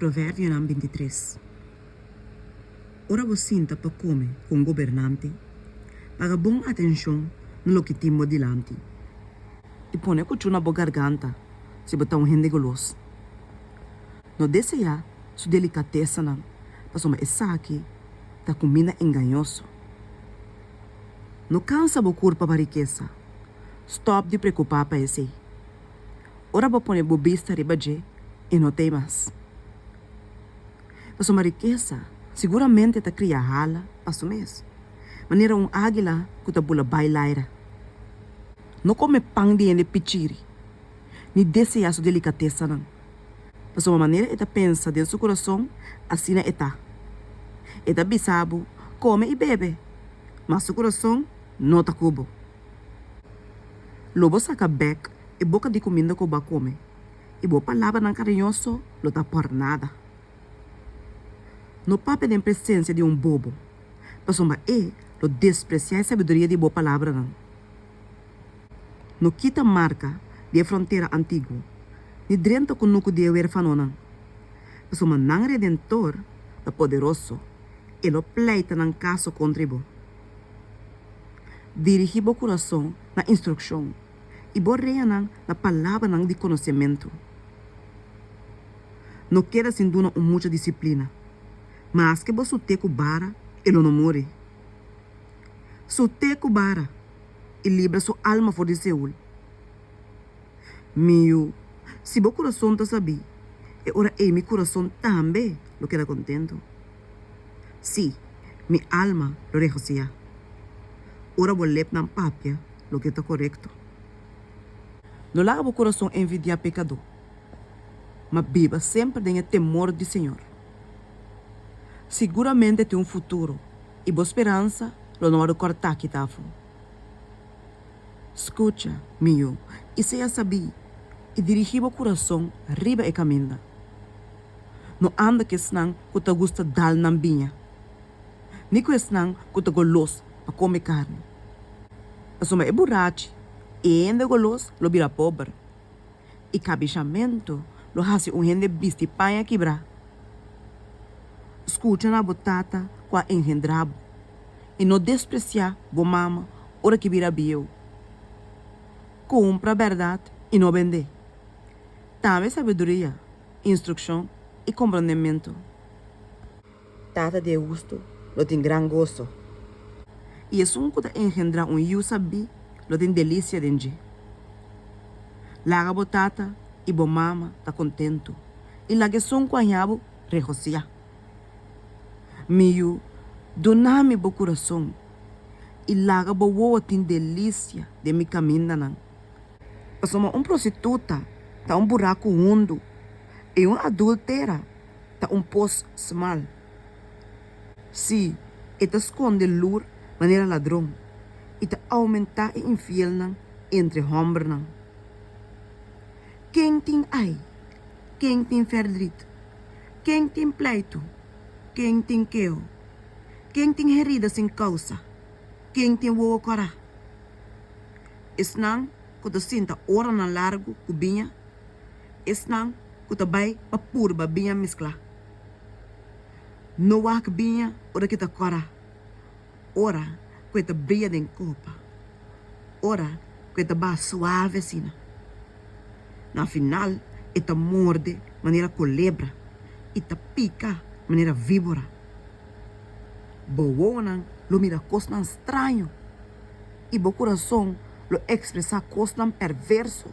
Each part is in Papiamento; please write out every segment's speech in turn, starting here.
Proverbionan bintitres Ora bo sinta pa kome ku un gobernante, paga bon atenshon na loke tin bo dilanti, i pone kuchu na bo garganta si bo ta un hende golos, no deseá su delikatesanan, pasobra esaki ta kumina engañoso. No kansa bo kurpa pa rikesa, stòp di preokupá pa esei. Ora bo pone bo bista riba dje, e no ta ei mas. Pasobra rikesa siguramente ta kria hala pa su mes, manera un águila ku ta bula bai laira. No kome pan di hende pichiri, ni deseá su delikatesanan, pasobra manera e ta pensa den su kurason, asina e ta. E ta bisa bo, Kome i bebe, mas su kurason no ta ku bo. Lo bo saka bek e boka di kuminda ku bo a kome, i bo palabranan kariñoso lo ta por nada. No papia den presensia di un bobo, pasobra e lo despresiá e sabiduria di bo palabranan. No kita marka di e frontera antiguo, ni drenta kunuku di e werfanonan, pasobra nan Redentor ta poderoso, e lo pleita nan kaso kontra di bo. Dirigí bo kurason na instrukshon, i bo reanan na palabranan di konosementu. No keda sin duna un mucha disiplina, maske bo sut'é ku bara, e lo no muri. Sut'é ku bara, i libra su alma for di Seul. Mi yu, si bo kurason ta sabí, e ora ei mi kurason tambe lo keda kontentu. Sí, mi alma lo regosiyá. Ora bo lepnan papia loke ta korekto. No laga bo kurason envidiá pekadó, ma biba semper den e temor di Señor. Siguramente e tin un futuro i bo speransa lo no a rekortá kita afó. Skucha, mi yu, i sea sabí, i dirigí bo kurason riba e kaminda. No anda ku esnan ku ta gusta dal nan biña, ni ku esnan ku ta golos pa kome karni. Pasobra e burachi, e hende golos, lo bira pober, i kabishamentu lo hasi un hende bisti paña kibrá. Skucha na bo tata ku a enhendrá bo, i no despresiá bo mama ora ki bira bieu. Kumpra bèrdat i no bend'é. Tambe sabiduria. instruccion y comprondementu. Tata di e husto lo tin gran goso. Y esun cu ta engendra un yiu sabí lo tin delicia den dje. Laga bo tata y bo mama ta contentu y laga esun cu a hiá bo regociá. Mi yiu, duna mi bo curason y laga bo wowo tin delicia den mi camindanan. Pasobra un prostituta ta un buraku hundu, i un adúltera ta un pos smal. Sí, e ta skonde lur manera ladron, i ta oumentá e infielnan entre hòmbernan. Ken tin ai? Ken tin fèrdrit? Ken tin pleitu? Ken tin keo? Ken tin herida sin kousa? Ken tin wowo kòrá? Esnan ku ta sinta oranan largu ku biña, esnan ku ta bai pa purba biña mesklá. No wak biña ora ke ta kora, ora ku e ta bria den kopa, ora ku e ta ba suave asina. Na final e ta morde manera kolebra i ta pika manera víbora. Bowonan lo mira kosnan straño. i bo kurason lo ekspresá kosnan pèrvèrso,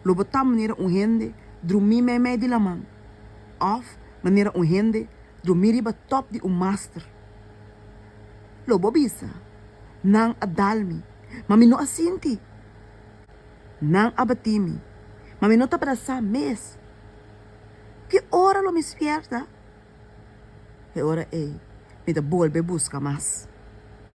lo bo ta manera un hende drumí meimei di laman, òf manera un hende drumí riba tòp di un master. Lo bo bisa, Nan a dal mi, ma mi no a sinti. Nan a batí mi, ma mi no ta brasá mes. Ki ora lo mi spièrta? E ora ei mi ta bolbe buska mas.